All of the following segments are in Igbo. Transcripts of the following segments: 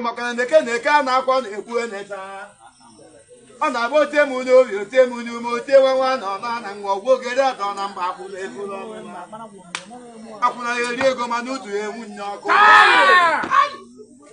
maka na neke neke a na-akwa na-ekwu eneta ọ na-abụ ote m n'obi ote m n'ume ote nwa nwa na ọna na nwa ọgwụ ogere atọ na mba akwụna ego akwụna ya eri ego mana utu ya enwu nye ọkụ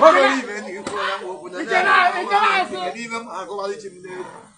o nwere ibe na ikwu ya nwa okwu na ya na-agụgharị chi m n'egwu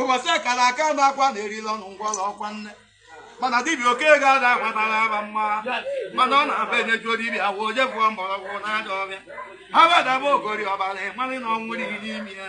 ụbọchị a kara aka na akwa na-erila ọnụ ngwọrọ ọkwa nne mana dibịa oke ga-ada agbatara aba mma mana ọ na-aba enyejuo dibịa afọ o je bụọ mgbọrọgwụ n'ajọ ọhịa ha badaba ogori ọbara ịmarị na ọnwụ n'ihi n'ime ya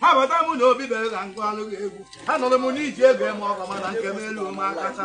abata m na obi bere ka nkụ anụghị egwu anụrụ m na eji ego eme ọgọ mana nke m elu m akacha